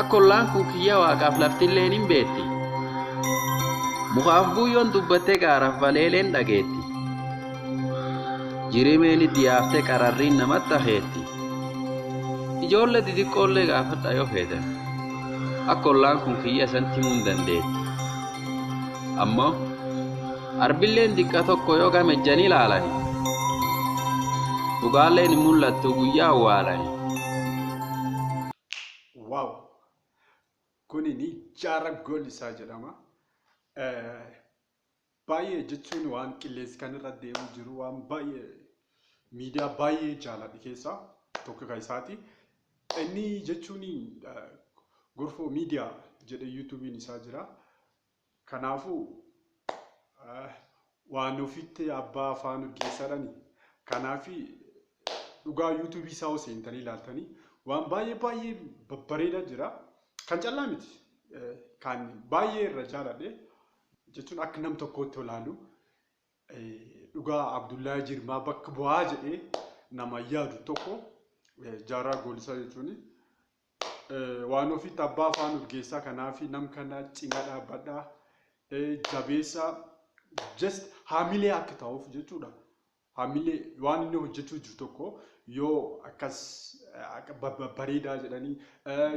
Akka ollaan kun kiyya waaqaaf laftilleen hin beetti. Mukaaf buuyyoon dubbattee gaaraaf baleeleen dhageetti. Jirimeen itti yaaftee qararriin namatti akeetti. Ijoollee xixiqqoollee gaafadha yoo feetan. Akka ollaan kun kiyya isatti himuu hin dandeetti. Ammoo Arbilleen diqqa tokko yoo game ejjanii laalani. Dhugaalleen hin mul'attu guyyaa awwaalani. Waaw! Kuni ni jaara gool isaa jedhama. Eh, Baay'ee jechuun waan qilleensi kan irra deemu jiru waan baay'ee miidiyaa baay'ee jaaladhe keessaa tokko kan isaati. Inni jechuun eh, gorfoo miidiyaa jedhee yuutuubiin isaa jira. Kanaafuu, waan ofiitti abbaa afaan urgeessaadhani. Kanaaf dhugaa yuutuubii isaa yoo seentanii ilaaltanii waan baay'ee baay'ee babbareedaa jira. Kan callaa miti. Kan baay'ee irra jaaladhe jechuun akka nam tokkootti olaalu dhugaa Abdullahi Jirmaa bakka bu'aa jedhee nama yaadu tokko jaarraa goolisaa jechuun Waan ofitti abbaa afaan urgeessaa kanaafi nam kana cina dhaabbadha jabeessaa just haamilee akka ta'uuf jechuudha. Haamilee waan inni hojjechuu jiru tokko yoo akkas bareedaa jedhanii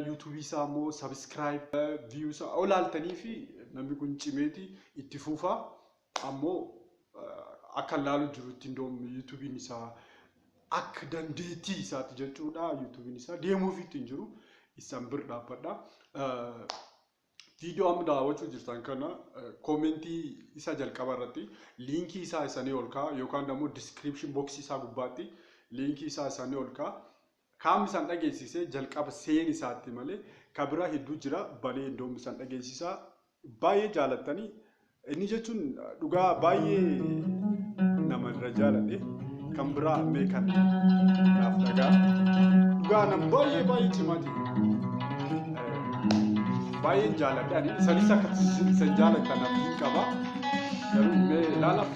yuutuubii isaa immoo sabiskiraayib viyuu isaa olaaltanii fi namni kun cimeeti itti fuufaa Ammo akkan laalu jirutti indoom yutubiin isaa akk dandeettii isaatti jechuudha yutubiin isaa deemuufiitti hin jiru issan bir dhaabbadha. Viidiyoo amma daawwachuu jirtan kana koomentii isa jalqaba irratti liinkii isaa isanii ol ka'a yookaan immoo description box isaa gubbaatti liinkii isaa isanii ol ka'a. Kaam isan dhageesise jalqaba seeni isaatti malee ka biraa hedduu jira balee indoom isan dhageesisa baay'ee jaalattani inni jechuun dhugaa baay'ee nama irra jaaladhe kan biraa mee kan naaf dhagaa dhugaa nam baay'ee baay'ee cimaati baay'een jaaladhe ani isanis akka isan jaalattan abdiin qaba garuu mee ilaala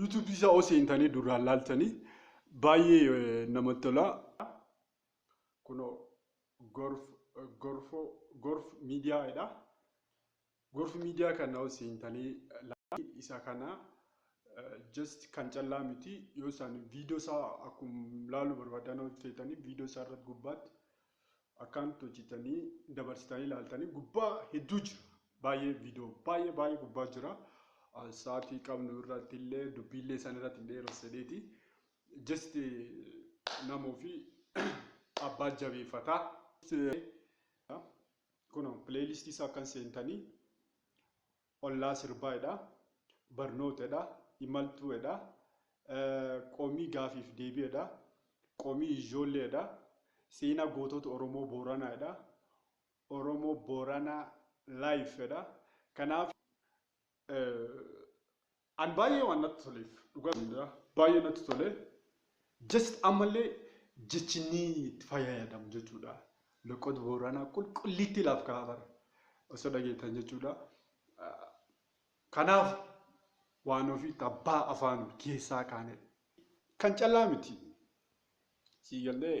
YouTube isaa yoo seentanii duraan laaltanii baay'ee namatti tola. Kunoo gorf gorfoo gorf miidiyaa jedha. Gorf miidiyaa kana yoo seentanii laaltanii isa kana just kan callaa miti yoo isaan viidiyoo isaa akkuma laaluu barbaadan yoo seetanii viidiyoo isaa irratti gubbaatti Akkaan itti hojjetanii dabarsitanii ilaaltanii gubbaa hedduu jira. Baay'ee viidiyoo baay'ee baay'ee gubbaa jira. Sa'aatii qabnu irratti illee dubbiillee isaan irratti hin dheeressaneeti. Just nama ofii abbaa jabeeffataa. Kun pileeyiliistii isaa akkan seentanii ollaa sirbaa edha barnoota edha imaltuu edha qomii gaafiif deebii edha qomii ijjoollee edha seenaa gootota oromoo booranaa edha oromo borana life edha kanaaf An baay'ee waan natti toleef dhugaa sin jedha baay'ee natti tole just ammallee jechi ni itti fayyadamu jechuudha loqod booranaa qulqulliitti laaf ka'a bara osoo dhageettan jechuudha kanaaf waan ofiitti abbaa afaan keessaa kaane kan callaa miti siigallee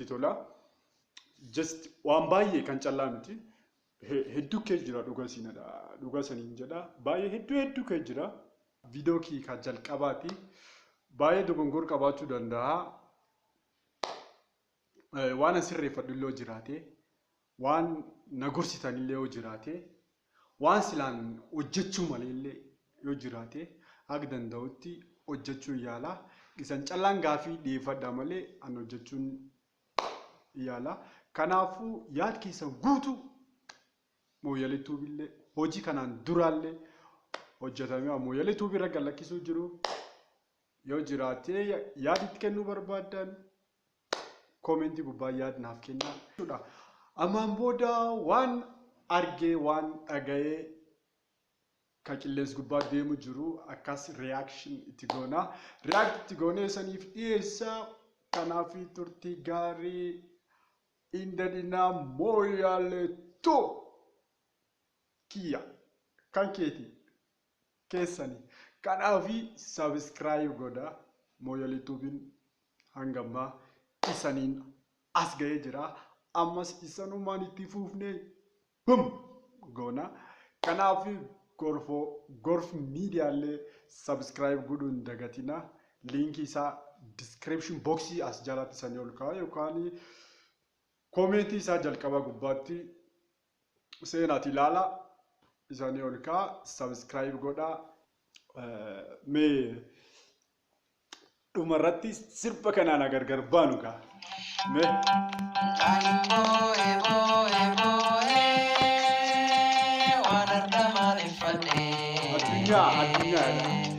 tola. Just waan baay'ee kan callaa miti. He- Hedduu kee jira dhuga siinadha. Dhuga saniin jedha. Baay'ee hedduu hedduu kee jira. Viidiyoo kee ka jalqabaati. Baay'ee dogongor qabaachuu danda'a. Eh, Waan asirreeffadhu illee jiraate. Waan na gorsitanillee yoo jiraate, waan silaan hojjachuu maleellee yoo jiraate haga danda'utti hojjachuun yaala. Isan callaan gaafii dhiyeeffadhaa malee an hojjachuun yaala. Kanaafuu yaad keessan guutuu Mooyyalee Tuubillee hojii kanaan duraallee hojjatamee Mooyyalee Tuubii irra gad lakkisuu jiru yoo jiraatee yaad itti kennuu barbaaddan Comment gubbaa yaad naaf kennaa jechuudha. Ammaan booda waan argee waan dhaga'ee ka qilleens gubbaa deemu jiru akkas reaction itti goona. React itti goonee saniif dhiyeessa. Kanaaf turtii gaarii inda dinaa mooyaalee tu kiyya kan keeti. kesani kanafi subscribe godha moyali tubin hanga amma isanin as gahe jira ammas isanuman itti fufne bum gona kanafi gorfo gorf media le subscribe godhu hin dagatina linki isa description box as jalatti isani ol ka'a yokani komenti isa jalqaba gubbatti seenaati ilaala isanii ol kaa subscribe godha mee dhuma irratti sirba kanaan na gargar baanu kaa mee addunyaa addunyaa jedha.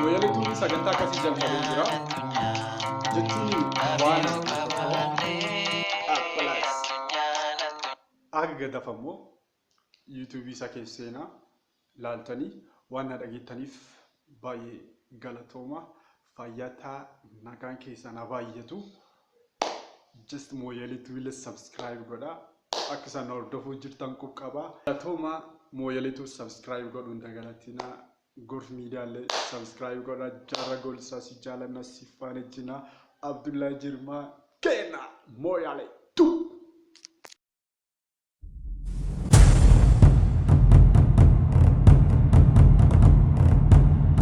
Looyaliituun sagantaa akkasii jalqabee jira. Jechuun waan Appalaas. Aga gadafa immoo yuutuubii isaa keessa seenaa laaltanii waan na dhageettaniif baay'ee galatooma. Fayyataa nagaan keessan haa baay'atu. Just mooyaliitu illee subscribe godha. Akka isaan hordofuu jirtan qubqaba. Galatooma mooyaliitu subscribe godhuun dagalatina. Gorf Media le subscribe godha jarra golsa si jaalanna si faana jina Abdullahi Jirma keena Moyale tu.